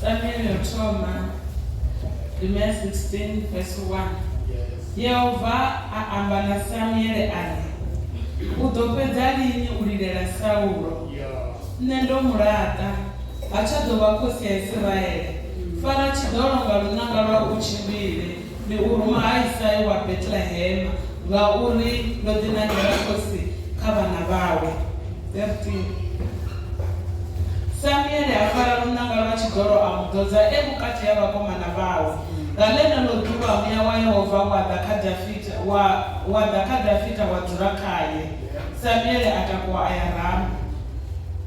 Samuel thoma Rimea 16 verse 1 Yehova a amba na Samuele a ri, U ḓo fhedza lini u lilela Saulo? Nṋe ndo mu laṱa, ha tsha ḓo vha khosi ya Isiraele. Fara tshiḓolo nga lunanga lwa u tshimbile, Ni u ruma ha Isai wa Betlehema, ngauri ndo ḓinangela khosi kha vhana vhawe. 13 Samuele a fara luṋanga lwa tshidolo a mu ḓodza e vhukati ha vhakomana vhawe. Nga ḽeneḽo ḓuvha muya wa Yehova wa ḓa kha Dafita, wa, wa ḓa kha Dafita wa dzula khae. Samuele a takuwa a ya Rama.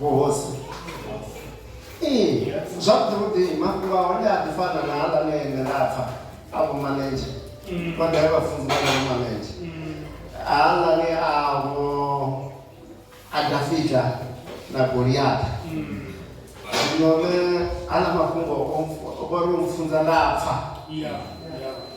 Vhuhosi. Ee, zwavhuḓi mafhungo a hone a ḓi fana na aḽa ne nṋe nda pfa a vho manedzhe vha ḓae vhafunzi vha vho manedzhe aḽa ne a vho a dafita na goliata zwino ne aḽa mafhungo o mpfu- o vha ri o mpfunza nda pfa Yeah. Yeah.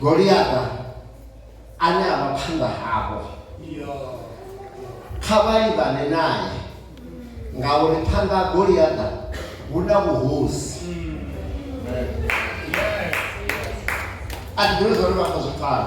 goliata ane a vha phanḓa havho kha vha livhane naye ngauri phanḓa ha goliata hu na vhuhosi a ndi ḓivhi zwa uri vha khou zwi pfala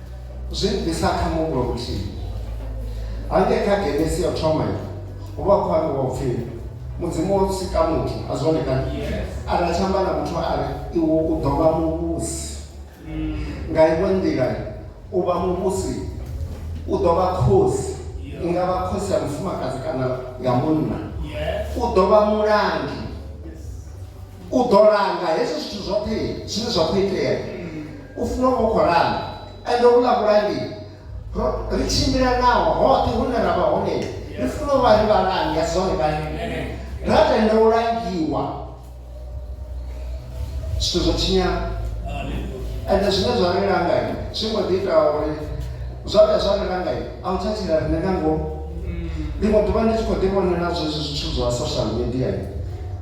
Zwi bvisa kha muhumbulo muthihi. Hangei kha Genesi ya u thoma yo hu vha khou ambiwa u pfi mudzimu wo sika muthu a zwone kana ara a tshi amba na muthu a ri iwe u ḓo vha muvhusi nga iwe nḓila u vha muvhusi u ḓo vha khosi i nga vha khosi ya mufumakadzi kana ya munna u ḓo vha mulangi u ḓo langa hezwo zwithu zwoṱhe zwine zwa khou itea u funa u vha khou langa ende u ḽa vhulangi ri tshimbila naho hoṱhe hune ra vha hone ri funa u vha ri vhalangi ya zwone vhali ra tenda u langiwa zwithu zwo tshinyana ende zwine zwa ri langa zwi mbo ḓi ita uri zwa vhuya zwa ri langa a u tsha tshila rine nga ngomu ḽiṅwe ḓuvha ndi tshi khou ḓi vhonela zwezwi zwithu zwa social media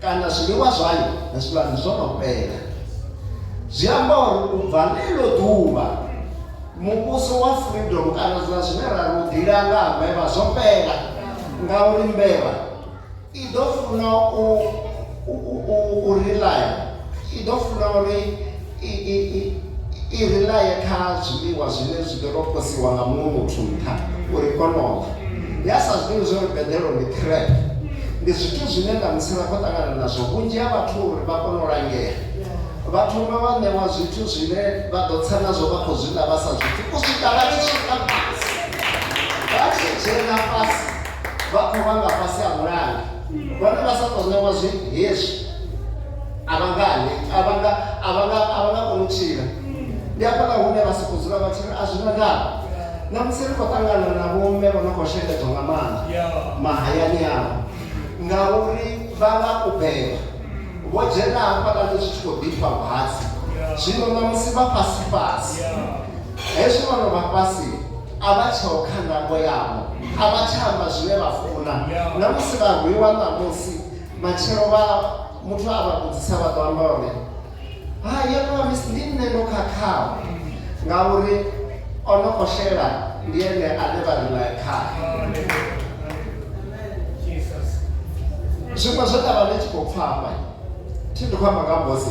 kana zwiḽiwa zwayo na zwivhani zwo no fhela zwi amba uri u bva ḽeḽo ḓuvha muvhuso wa freedom kana zwa zwine ra ri u ḓila nga ha mbevha zwo fhela ngauri mbevha i ḓo funa u u u u relaya i ḓo funa uri i ri laye kha zwiḽiwa zwine zwi ḓo tou posiwa nga muṅwe muthu nṱha uri kono ḽa ya sa zwiḓivhi zwo ri beḓelo ndi trap ndi zwithu zwine ṋamusi ra khou ṱangana nazwo vhunzhi ha vhathu uri vha kone u langea vha thoma vha ṋewa zwithu zwine vha ḓo tsa nazwo vha khou zwi ḽa vha sa zwithu u swika vha tshi swika fhasi vha tshi dzhena fhasi vha khou vha nga fhasi ha mulanga vhane vha sa tou ṋewa zwi hezwi a vha nga ane a vha nga a vha nga a vha nga koni u tshila ndi hafhaḽa hune vha sokou dzula vha tshi ri a zwi na ndavha na musi ri khou ṱangana na vhomme vho no khou shengedzwa nga maanḓa mahayani avho ngauri vha nga u beba vho dzhena hafhaḽani zwi tshi khou ḓifha vhatsi zwino na musi vha fhasi fhasi Hezwi vho no vha fhasi, a vha tsheho kha ndango yavho, a vha tsha amba zwine vha funa. Na musi vha rwiwa ṋamusi, matshelo vha muthu a vha vhudzisa vha ḓo amba uri, Hai, yo no vha misi, ndi nṋe ndo khakhaho, ngauri o no khou xela ndi ene ane vha ri nae khae. Zwiṅwe zwe nda vha ndi tshi khou pfa hafha, thi ndi khou amba nga Mose,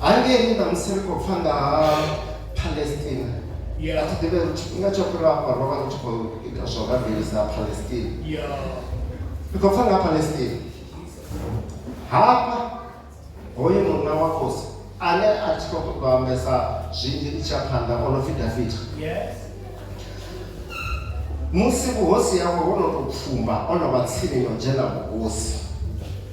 hangei na musi ri khou pfa nga ha palestina a thi ḓivhe uri tshifhinga tsho fhira afha ro vha ri tshi khou ita zwa u rabelisa palestina ri khou pfa nga palestina hafha hoyu munna wa khosi ane a thi khou ṱoḓa ambesa zwinzhi ndi tsha phanḓa o no pfi dafita musi vhuhosi yawe ho no tou pfumba o no vha tsini no dzhena vhuhosi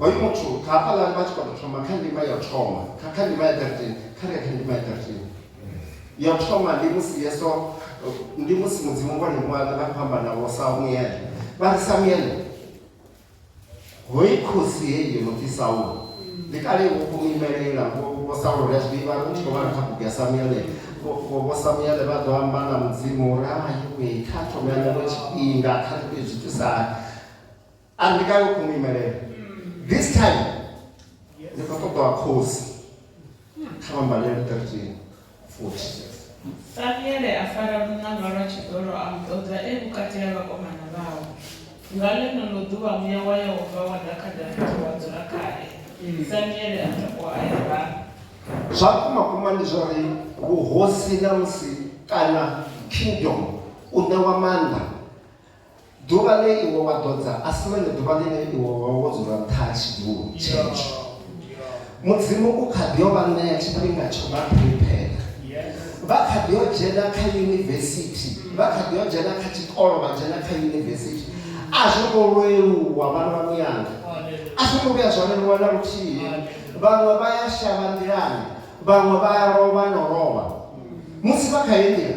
Hoyu muthu kha hafhaḽani vha tshi khou tou thoma kha ndima ya u thoma kha kha ndima ya 13 kha ri ya kha ndima ya 13 ya u thoma ndi musi yeso ndi musi mudzimu vho livhuwa vha khou amba na vho samuele vha ri samuele hoyi khosi heyi yo no pfi saulo ndi kale vho khou imelela vho saulo ri a zwi ḓivha ri tshi khou vhala kha bugu ya samuele vho samuele vha ḓo amba na mudzimu uri hayi kha thome ya ṋewe tshifhinga kha ri tea zwi thusa a ndi kale u khou mu imelela this time ndi khou ṱoḓa wa khosi kha vha mbalele 13 futhi Samuele a fara muṋanga lwa tshiḓolo a mu ṱoḓa e vhukati ha vhakomana vhawe. Nga ḽeneḽo ḓuvha muya wa Yehova wa ḓa kha Davida wa dzula khae. Samuele a takuwa a ya Rama. zwa vhukuma vhukuma ndi zwa uri vhuhosi na musi kana kingdom u ṋewa maanḓa Ḓuvha ḽe iwe wa ḓodza a si ḽone ḓuvha ḽine iwe wa vha wo dzula nṱha ha tshidulo tshetsho. Mudzimu u kha ḓi yo vha ṋea tshifhinga tsho vha phuriphera. Vha kha ḓi yo dzhena kha yunivesithi, vha kha ḓi yo dzhena kha tshikolo, vha dzhena kha yunivesithi. A zwo ngo leluwa vhana vha muyanga, a zwo ngo vhuya zwa leluwa na luthihi. Vhaṅwe vha ya shavha nḓilani, vhaṅwe vha ya lovha no lovha musi vha kha heyi nḓila.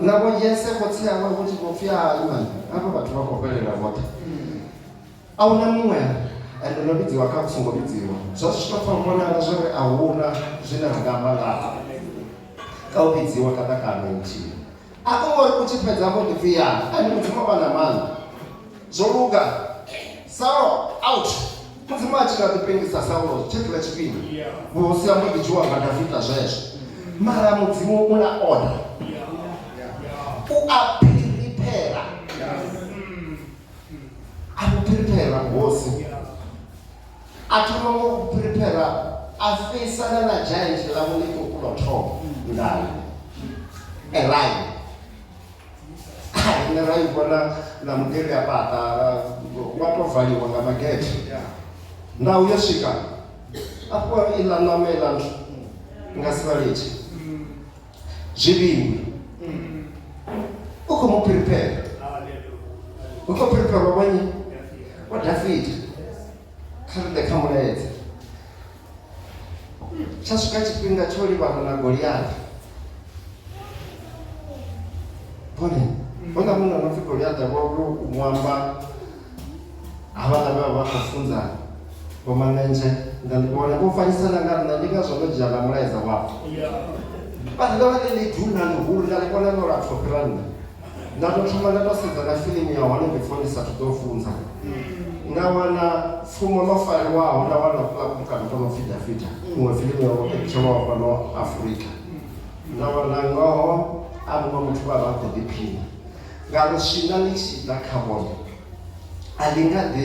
navho yese khotsi awe vho tshi vho pfi hai mani avho vhathu vha khou fhelela vhoṱhe a hu na muṅwe ende no vhidziwa kha songo vhidziwa zwa zwi tshi to vhonala zwo ri a huna zwine ra nga amba ngaha ka u vhidziwa ka ṱakano nthihi a ko ngori u tshi fhedza vho ḓi pfi ya ende mudzimu vha na maanḓa Zwo luga. Saulo, out! Mudzimu a tshi nga ḓi pengisa Saulo tshentshiḽa tshifhinga, vhuhosi ha mbo ḓi dzhiwa nga Dafita zwezwo. Mara Mudzimu u na order. U a phiriphera. A vhu phiriphera vhuhosi. A thoma ngo u phiriphera a feisana na giant ḽa vhuḽiṱuku ḽo thoma ngayo. Eline. rine ra i vhona na mugede a fhaṱa wa tou valiwa nga magede ndau yo swika afho iḽa ṋama iḽa nthu nga si vha litshe zwivhiwi u khou mu prepare u khou prepare wa vhanyi wa dafita kha ri ḓe kha mulaedza tsha swika tshifhinga tsho livhana na goliathi bone hona munhu anopfi goliathi akuamwamba havhala vha vha khou funza vhomanentshe nda ndi vhona vho fanyisana nga nṋa ndi ngazwo ndo dzhia na mulaedza wavho vha ḓa vha ḽi ḽi duna ḽihulu nda ḽi vhona no lapfo fhira nṋa nda to thoma nda to sedza na filimu ya hone before ndi sathu ḓo funza nda wana pfuma mafariwaho nda wana kula kumkano kono pfi dafita kuṅwe filimu ya vhoketshelwaho fhano afurika nda wana ngoho a muṅwe muthu vha vha khou ḓiphina nga luswina ḽi tshi ḓa kha vhone a ḽi nga ḓi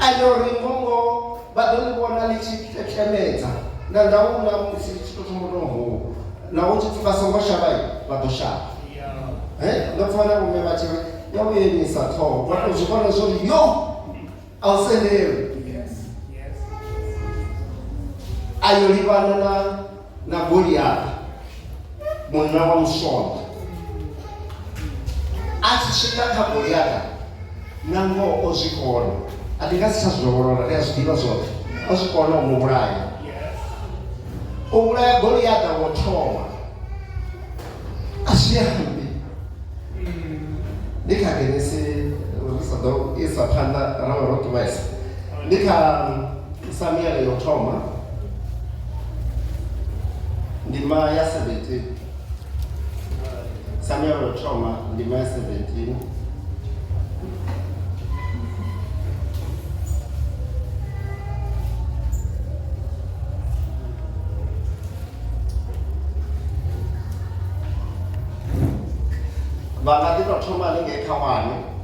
ane uri ngongo vha ḓo ḽi vhona ḽi tshi ṱeṱemedza na ndaula musi ḽi tshi tou thoma tou hou na hu tshi pfi vha songo shavha vha ḓo shavha ndo pfa na vhume vha tshi ri ya vhuyelisa ṱhoho vha tou zwi vhona zwo ri yo a u sendelwe ayo livhana na na goliathi munna wa musonda a tshi swika kha goliathi na ngoho o zwi kona a ndi nga si tsha zwilolora ri a zwi ḓivha zwoṱhe o zwi kona u mu vhulaya u vhulaya goliathi wo thoma a zwi ambi ndi kha genesi ri sa ḓo isa phanḓa ra vha ro ṱuwesa ndi kha Samuele yo thoma ndima ya 17 Samuele yo thoma ndima ya 17 vha nga ḓi tou thoma haningei kha wane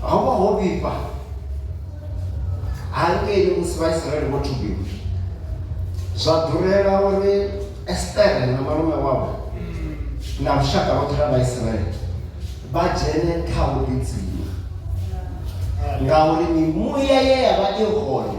ho vha ho vhifha hangeini musi vhaisraele vho thubiwa zwa ḓurela uri estere na malume wavho na lushaka lwoṱhe lwa vhaisraele vha dzhene kha vhuḓidzima ngauri mimuya ye ya vha i hone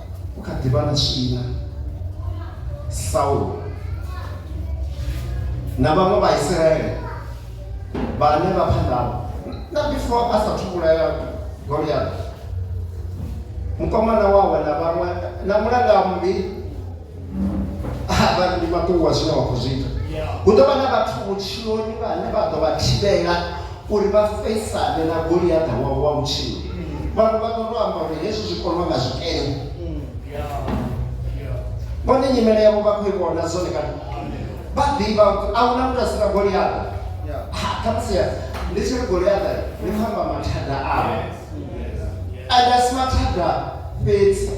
ku kha ḓivha na swina saulo na vhaṅwe vhaisraele vhane vha phanḓavho na before a sa thuvhulaya goliath mukomana wawe na vhaṅwe na mulanga mmbi vha ndi mafhungo a zwine wa khou zwi ita hu ḓo vha na vhathu vhutshiloni vhane vha ḓo vha thivhela uri vha fesane na goliaḓa wavho wa vhutshilo vhaṅwe vha ḓo to amba uri hezwi zwi konwa nga zwikene vhone nyimele yavho vha khou i vhona zwone kana vha ḓivha a hu na muthu a si na goliaḓa khamusi ndi tshi ri goliaḓa ndi khou amba mathada awe A nga si mathada fhedzi,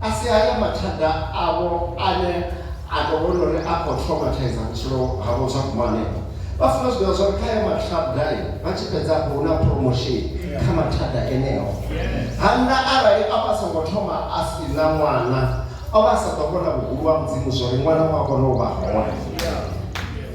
a si haya mathada avho ane a tou vhona uri a khou traumataiza vhutshilo havho zwa guma hanefho. Vha funa u zwi ḓivha zwa uri kha ayo mathada vha tshi fhedza afho hu na promotion kha mathada eneo. Hannda arali o vha a songo thoma a si na ṅwana, o vha a sa ḓo vhona vhuhulu ha Mudzimu zwa uri ṅwana u a kona u vha hone.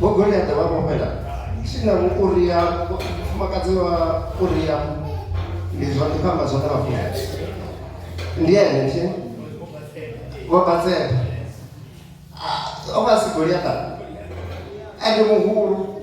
vho goliaḓa vha vhofhela tshina vho uria mufumakadzi wa uria ndi zwa ndi pamba zwa ndavha funa ndi ene nthi vho batsela o vha si goliaḓa ende muhulu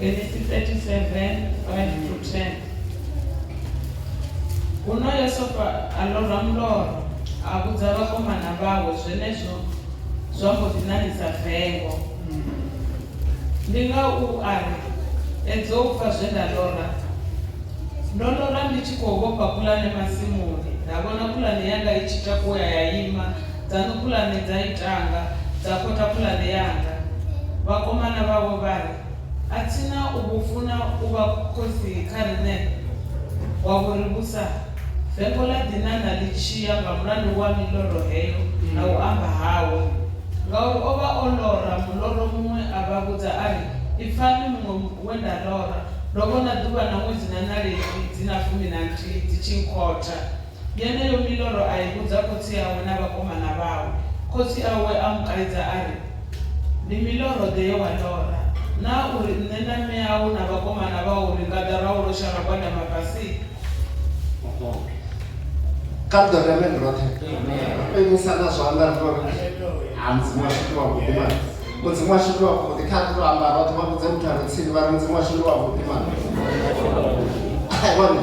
Genesis 37, 5 through 10. Huno Yosefa a lorwa muloro a vhudza vhakomana vhawe zwenezwo zwa mbo ḓi ṋaṋisa vengo ndi nga u a ri edzo u pfa zwe nda lora ndo lora ndi tshi khou vhofha pulane masimuni nda vhona pulane yanga i tshi takuwa ya ima Dzaṋu khulwane dza itanga, dza khotha khulwane yanga. Vhakomana vhawe vha ri, A thi na u vhu funa u vha khosi kha riṋe? Wa vho ri vhusa? Vengo ḽa ḓi ṋaṋa ḽi tshi ya nga mulandu wa miloro heyo na u amba hawe. Ngauri o vha o lora muloro muṅwe a vha vhudza a ri, Ipfani muṅwe we nda lora, ndo vhona ḓuvha na ṅwedzi na ṋaledzi dzi na fumi na nthihi dzi tshi nkhotha. Yeneyo miloro a i vhudza khotsi awe na vhakomana vhawe. Khotsi awe a mu kaidza a ri, Ndi miloro-ḓe ye wa lora? Naa u ri nṋe na mme au na vhakomana vhau ri nga ḓa ra u losha ra gwadama fhasi? Kha ri ḓo ri ameni roṱhe. Ri imusa na zwanḓa ri tou ri, Ha, Mudzimu washu ndi wavhuḓi mani. Mudzimu washu ndi wavhuḓi. Kha ri tou amba roṱhe, vha vhudze muthu a re tsini vha ri, Mudzimu washu ndi wavhuḓi mani. Vhone.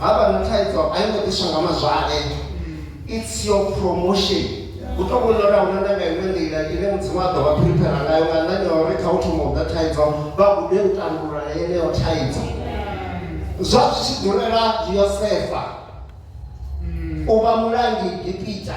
ha vha na thaidzo a yo ngo ḓiswa nga mazwale it's your promotion hu to vhona uri ahuna nda nga iṅwe nḓila ine mudzimu a ḓo vha phiriphera ngayo nga nṋani ya uri kha u thoma u ḓa thaidzo vha gude u tandulula yeneyo thaidzo zwa zwi tshi ḓurela yosefa u vha mulangi gipita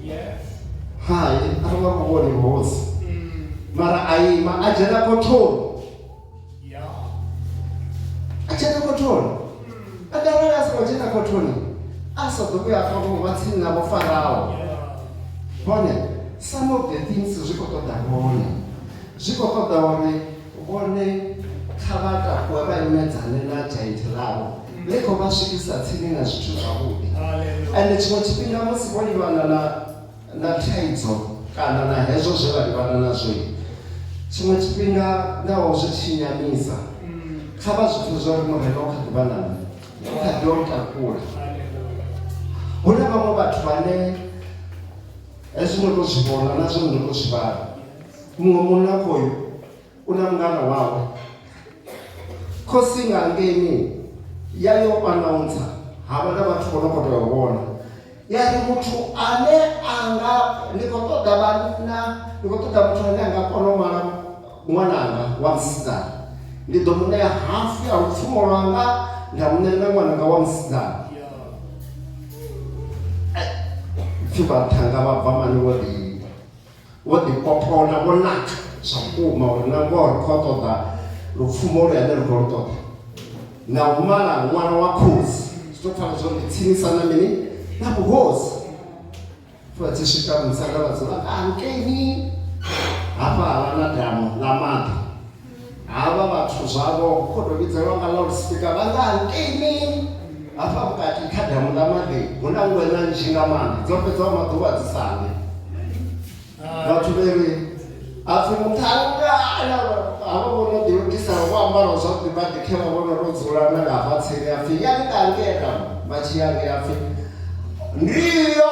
hai a ri nga muvhoni hosi mara a ima a dzhena khothoni a dzhena khothoni a darali a songo dzhena khothoni a sa ḓo vhuya afha vhungo vha tsini navho faraho bone some of the things zwi khou ṱoḓa bone zwi khou ṱoḓa uri Vhone, kha vha takuwe vha imedzane na dzhainthe ḽavho ḽi khou vha swikisa tsini na zwithu zwavhuḓi. Ende tshiṅwe tshifhinga musi vho livhana na, na thaidzo kana na hezwo zwe vha livhana nazwo, tshiṅwe tshifhinga naho zwi tshi nyamisa, kha vha zwi pfe zwa uri Murena u kha ḓi vha na nṋe, u kha ḓi u takula. Hu na vhaṅwe vhathu vhane hezwi ndo tou zwi vhona na zwone ndo tou zwi vhala. muṅwe munna khoyo u na mungana wawe khosi nga ngeni ya yo anaunsa havha na vhathu vho no khou tea u vhona ya ri muthu ane a nga ndi khou ṱoḓa vhanna ndi khou ṱoḓa muthu ane a nga kona u mala ṅwananga wa musidzana ndi ḓo mu ṋea hafu ya lupfumo lwanga nda mu ṋea na ṅwananga wa musidzana pfi vhathanga vha bva mani vho ḓi Vho ḓikopolola vho naka zwa vhukuma uri na ngoho ri khou ṱoḓa lupfumo lwe ane ri khou lu ṱoḓa na u mala ṅwana wa khosi zwi tou pfala zwori ndi tsinisa na mini na vhuhosi vha tshi swika musanda vha dzula nga hankeini hafha ha vha na damu ḽa maḓi Havha vhathu zwavho khou tou vhidzelwa nga loudspeaker vha nga hangeini hafha vhukati kha damu ḽa maḓi, hu na ngweṋa nnzhi nga maanḓa dzo fhedzaho maḓuvha dzi sa ḽi. Vhathu vhe ri a pfi muṱhannga havha vho no ḓilugisaho vho ambaraho zwavhuḓi vha ḓikhevha vho no tou dzula na nga hafha tsini a pfi yani nga ngea damu vha tshi ya ngea a pfi ndiyo.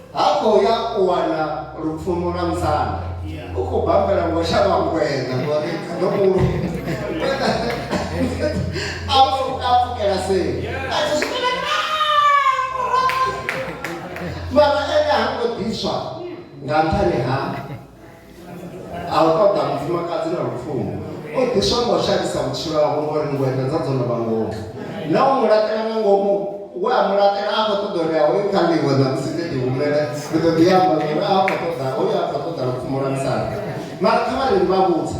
Ha khou ya u wana lupfumo lwa musanda. U khou bambela ngo shavha ngweṋa ngori ndo mulo. Ngweṋa a pfuka a pfukela seli. A tshi swika na mara ene ha ngo ḓiswa nga nṱhani ha a u ṱoḓa mufumakadzi na lufuno o ḓiswa nga u shandisa vhutshilo havho ngori ngwenda dza dzo no vha ngomu na u mu laṱela nga ngomu we a mu laṱela a khou ṱoḓa uri a hoyu kha ḽiwe na musi ḓe ḓihumele ri ḓo ḓi amba uri a khou ṱoḓa hoyu a khou ṱoḓa lupfumo lwa musanda mara kha vhareli vha vhudza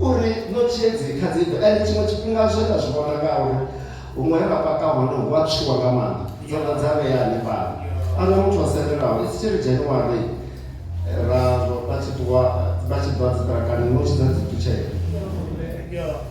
uri no tshedzi kha dzibve ende tshiṅwe tshifhinga zwe nda zwi vhona nga uri huṅwe he vha paka hone hu a tswiwa nga maanḓa dzo ḓa dza vhea hanefhala ana muthu o sendelaho i tshi ri january ra vha tshi ṱuwa vha tshi ḓwa dziṱirakani no tshidza dzi ṱutshela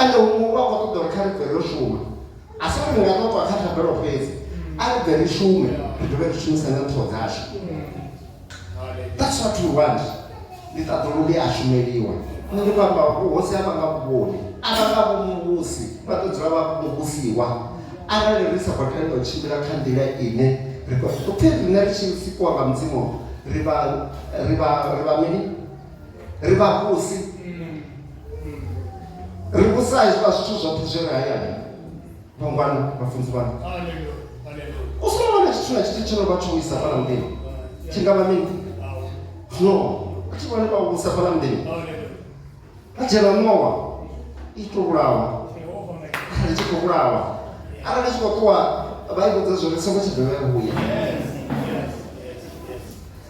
ende huṅwe hu vha khou ṱoḓa uri kha ri bve ro shuma a si uri ri nga ṱoṱwa kha thabelo fhedzi a ri bve ri shume ri dovhe ri shumise na nthoho dzashu that's what we want ndi ṱaḓuluke a shumeliwa nṋe ndi khou amba vhuhosi a vha nga vhuvhoni a vha nga vhumuvhusi vha ḓo dzula vha muvhusiwa arali ri sa khou tenda u tshimbila kha nḓila ine ri khou pfhi riṋe ri tshi sikiwa nga mudzimu ri vha ri vha ri vha mini ri vha vhusi ri vhusa hezwiḽa zwithu zwoṱhe zwi re hayani vhangwana vhafunzi vhanu u songo wana tshithu na tshithu tsho no vha tsho wisa fhala muḓini tshi nga vha mini no a tshi vhone vha vhusa fhala muḓini a dzhena nowa i to vhulawa kha ri tshi khou vhulawa arali tshi khou ṱuwa vha i vhudza zwori songo tshi dovha ya vhuya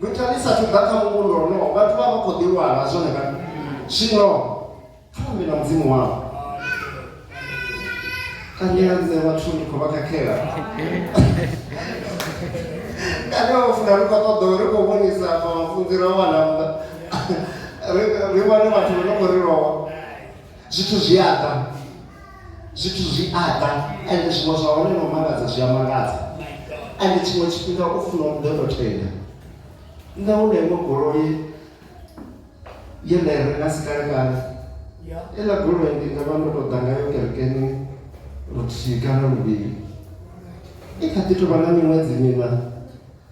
Mithara i sathu ḓa kha muvhundu wonowo, vhathu vha vha khou ḓilwala zwone vhaṋe. Zwino kha vha ambe na Mudzimu wavho. Kani a nṋe vhathu ndi khou vha khakhela? Kani a funa ri khou ṱoḓa uri khou vhonisa afha vhafunzi ra wana nnḓa ri wane vhathu vho no khou ri lowa zwithu zwi a ḓa zwithu zwi aḓa ende zwiṅwe zwa hone no mangadza zwi a mangadza ende tshiṅwe tshifhinga u funa u ḓoto tenda nṋe hu na iṅwe goloi ye nda i renga si kalekale iḽa goloi ndi nga vha ndo to ḓa ngayo kerekeni luthihi kana luvhili i kha ḓi tovha na miṅwedzi miṋa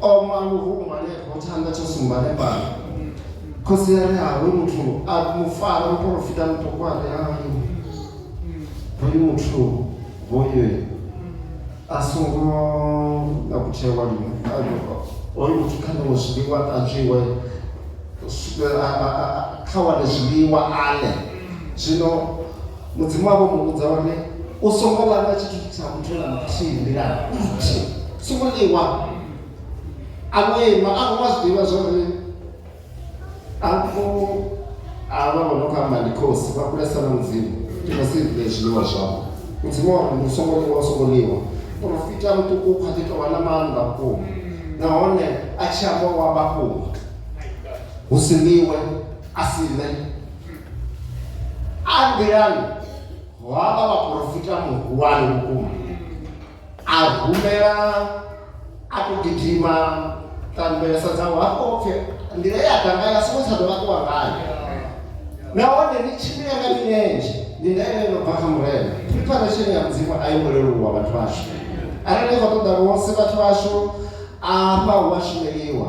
oma luhulu hanefho tshanḓa tsho sumba hanefhala khosi ya ri hawe muthu a mufara muporofita muṱuku a ri hayo hoyu muthu hoyu a songo na kutshewa lini hoyu muthu kha ṋewe zwiḽiwa ṱanzwiwe kha wane zwiḽiwa ale zwino Mudzimu wavho mu vhudza uri u songo ḽa nga tshithu tsha muthu na muthihi nḓilani nthihi songo ḽiwa a vho ima a vho zwi ḓivha zwori afho avha vho no khou amba ndi khosi vha kulesa na mudzimu ndi khou si ḽe zwiḽiwa zwavho mudzimu wa uri u songo ḽiwa u songo ḽiwa porofita muṱuku u kha ḓi tovha na maanḓa vhukuma nahone a tshi amba wa vhafhunga hu si ḽiwe a si ḽe a nḓilani ho havha vhaporofita muhulwane vhukuma a humela a khou gidima ṱanḓelesa dzawe hafho pfe nḓila ye a ḓa ngayo a songo tsha dovha ṱuwa ngayo nahone ni tshimbile nga milenzhe ndi ndaela yo no bva kha murena preparation ya mudzimu a yi ngo leluwa vhathu vhashu arali ni khou ṱoḓa vhose vhathu vhashu afha hu a shumeliwa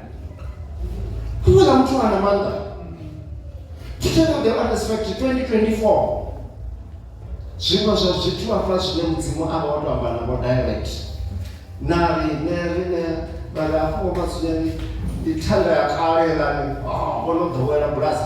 kuuza muthu nga na maanḓa tshitshena the honest fact 2024 zwiṅwe zwa zwithu hafha zwine mudzimu a vha o to amba navho direct na riṋe riṋe vhari afho vha zwine ndi thanda ya kale lani ah, vho no ḓowela bulasi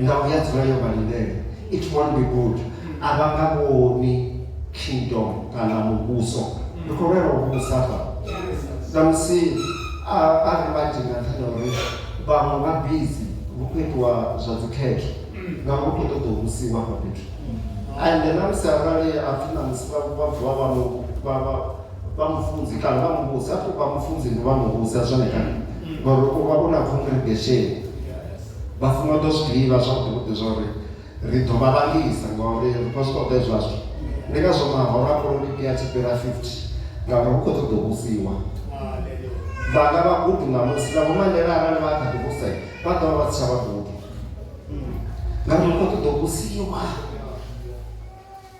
nga u ya dzula yo vha lindele it won't be good a vha nga vhoni kingdom kana muvhuso ndi khou lwela u vhusa fa samusi a a ri vhanzhi nga nṱhani ha uri vhaṅwe vha bizi vhu khou itiwa zwa dzikhetho ngauri vhu khou ṱoḓa u vhusiwa hafha fhethu ende na musi arali a pfhi na musi vha vha vuwa vha mu vha vha vha mufunzi kana vha muvhusi a pfhi vha mufunzi ndi vha muvhusi a zwone kana ngori u vha u na congregation vha funa u ḓo zwi ḓivha zwavhuḓi zwa uri ri ḓo vha vhalisa ngauri ri khou zwi ṱoḓa zwashu ndi ngazwo mahoro a polotiki a tshi fhira 50 ngauri hu khou ṱoḓa u vhusiwa vhanga vhagudu ṋamusi na vhomandela arali vha kha ḓi vhusa vha ḓo vha vha si tsha vhagudu ngauri hu khou ṱoḓa u vhusiwa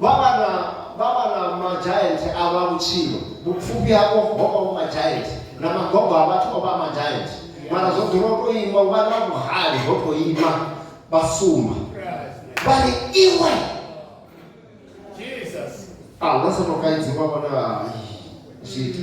Vha vha na vha vha na majaenthe a vha vhutshilo vhupfufhi havho ho vha vhu majaenthe na magogo a vhathu o vha a majaenthe mara zwo dzula u tou ima u vha na vhuhali ho tou ima vha sumba vha ri iwe a hu na sa tou kaidziwa vhona hai zwithu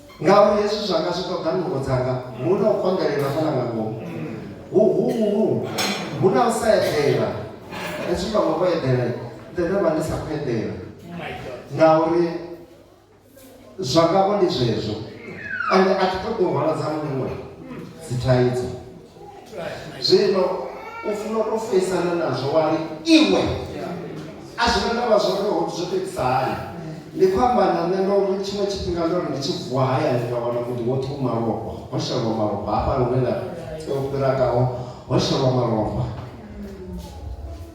Ngauri hezwi zwanga zwi ṱoḓa nungo dzanga, hu na u konḓelela fhaḽa nga ngomu. Huhuhu! Hu na u sa eḓela. Hezwi vhaṅwe vho eḓela, nṋe nda vha ndi sa khou eḓela. Ngauri zwanga-vho ndi zwezwo. Ende a thi ṱoḓi u hwala dza muṅwe dzithaidzo. zwino u funa u tou feisana nazwo wa ri iwe a zwi nga ndavha zwo ri ho zwo tou itisa hani ndi khou amba na nṋe ndo ri tshiṅwe tshifhinga ndo ri ndi tshi vuwa hayani nga wana muḓi woṱhe u malofha ho shelwa malofha hafha lune nda tea u fhira kaho ho shelwa malofha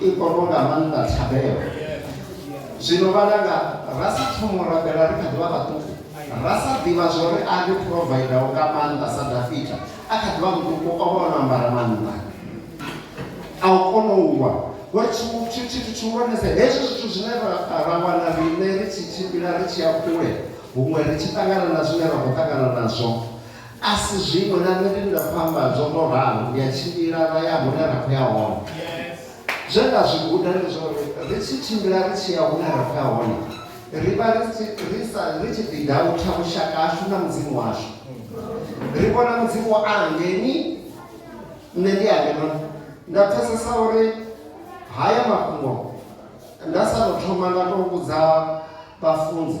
i kono nga maanḓa thabelo zwino vhalanga ra sa thomo rabela ri kha ḓivha vhaṱuku ra sa ḓivha zwori a ri provider nga maanḓa sa dafita a kha ḓivha muṱuku o vha o no ambara maanḓa a u kono u wa ngori tshithu tshihulwanesa hezwi zwithu zwine ra wana riṋe ri tshi tshimbila ri tshi ya kule huṅwe ri tshi ṱangana na zwine ra khou ṱangana nazwo A si zwiṅwe, na nṋe ndi nga fhamba zwo no ralo, ndi a tshimbila ra ya hune ra khou ya hone. Zwe nda zwi guda ndi zwa uri ri tshi tshimbila ri tshi ya hune ra khou ya hone, ri vha ri tshi ri sa ri tshi ḓidautha vhushaka hashu na Mudzimu washu. Ri vhona Mudzimu a ngeni, nṋe ndi a ngenoni. Nda pfesesa uri haya mafhungo nda sa tou thoma nda tou vhudza vhafunzi.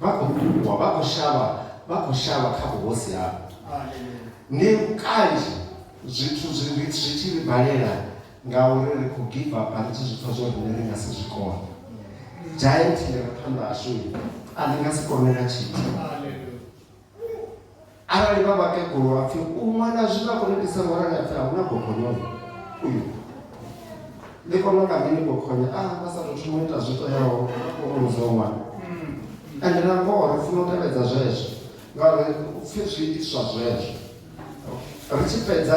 vha khou ṱhukhuwa vha khou shavha vha khou shavha kha vhuhosi havho ndi kanzhi zwithu zwi tshi ri balela ngauri ri khou give up ri tshi zwi pfa zwo rine ri nga si zwi kone giant ḽi re phanḓa hashu a ḽi nga si kone na tshithu arali vha vhakegulu ha pfi u ṅwana zwi nga kho itisa ngorani a pfi a huna gogonyo uyu ndi kona nga mini gogonyo a ah, vha sa tou thoma ita zwi toyaho muzi wa ṅwana ende na ngoho ri funa u tevhedza zwezwo ngauri u pfhi zwi itiswa zwezwo ri tshi fhedza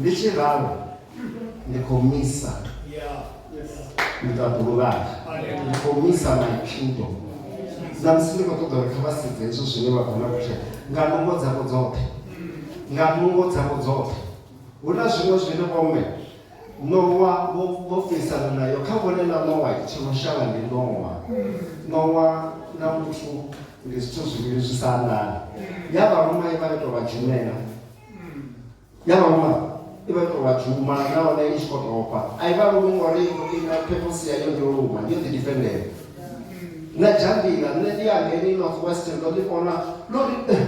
Ndi tshi ralo ndi khou misa miṱaḓulu vhanga ndi khou misa maitshudo na musi ndi khou ṱoḓa uri kha vha sedze hezwo zwine vha khou na kutshela nga nungo dzavho dzoṱhe nga nungo dzavho dzoṱhe hu na zwiṅwe zwine vhomme nowa vho fesana nayo kha vhone na nowa tsho no shavha ndi nowa nowa na muthu ndi zwithu zwivhili zwi sa anḓani ya vhalumai vha ito vha dzhumela ya vhaṅwe i vha tou vha dzhuma nahone i tshi khou topa a i vha lumi ngori ina phemusi ya yo yo luma yo ḓi difendela na dzhambila nṋe ndi ya ngeni north western ndo ḓi kona ndo ri eh,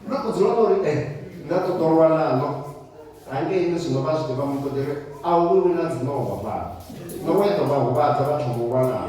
ndo ku dzula ndo ri e eh, nda ṱoḓolwa naḽo hangeini zwino vha zwi ḓivha mutodere a u vhi wina dzinova fhano no we ḓo vha huvhadza vhathu vho lwalaho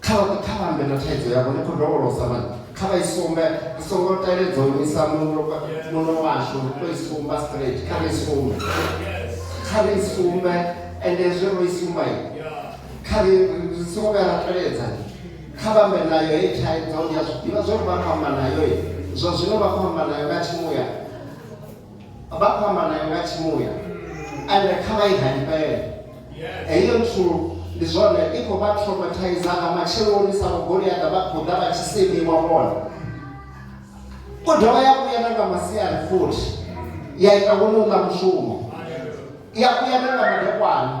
kha kha vha ambe na thaidzo yavho ni khou dovholosa vhana kha vha i sumbe ri songo teledza u nyisa muno muno washu ri to i sumba straight kha ri i sumbe kha ri i sumbe ende zwe ro i sumba i kha ri ri songo vhuya ra teledza kha vha ambe nayo hei thaidzo ndi a zwi ḓivha zwo ri vha khou amba nayo zwa zwino vha khou amba nayo nga tshimuya vha khou amba nayo nga tshimuya ende kha vha i halifhele heyo nthu ndi zwone i khou vha traumatizer nga matsheloni sa vhogoliaḓa vha khou ḓa vha tshi semiwa vhona u dovha ya vhuya na nga masiari futhi ya ita wone u ḽa mushumo ya vhuya na nga madekwana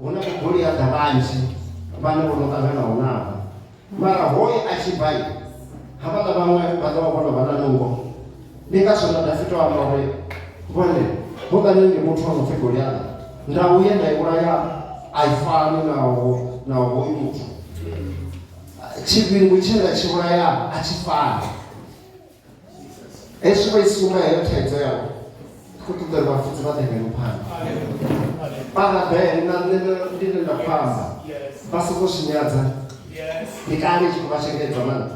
hu na vhugoliaḓa vhanzhi vhane vho no ṱanganaho navho mara hoye a tshi bva havhaḽa vhaṅwe vha ḓo vha vho no vha na nungo ndi ngazwo na dafito amba uri vhone hoḽani ndi muthu wa no pfi goliaḓa ndau ye nda i vhulaya a i fani naho naho hoyu muthu tshivhingu tshe nda tshi vhulaya a tshi fani hezwi vha i suma heyo thaidzo yavho khou ṱoḓa uri vhafunzi vha ḓengele phanḓa parabele na nṋe ndi ne nda khou amba vha songo swinyadza ndi kale tshi khou vha shengedza mana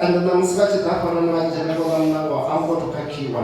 ende ṋamusi vha tshi ḓa fhanani vha dzhena vhona mnango a ngo to khakhiwa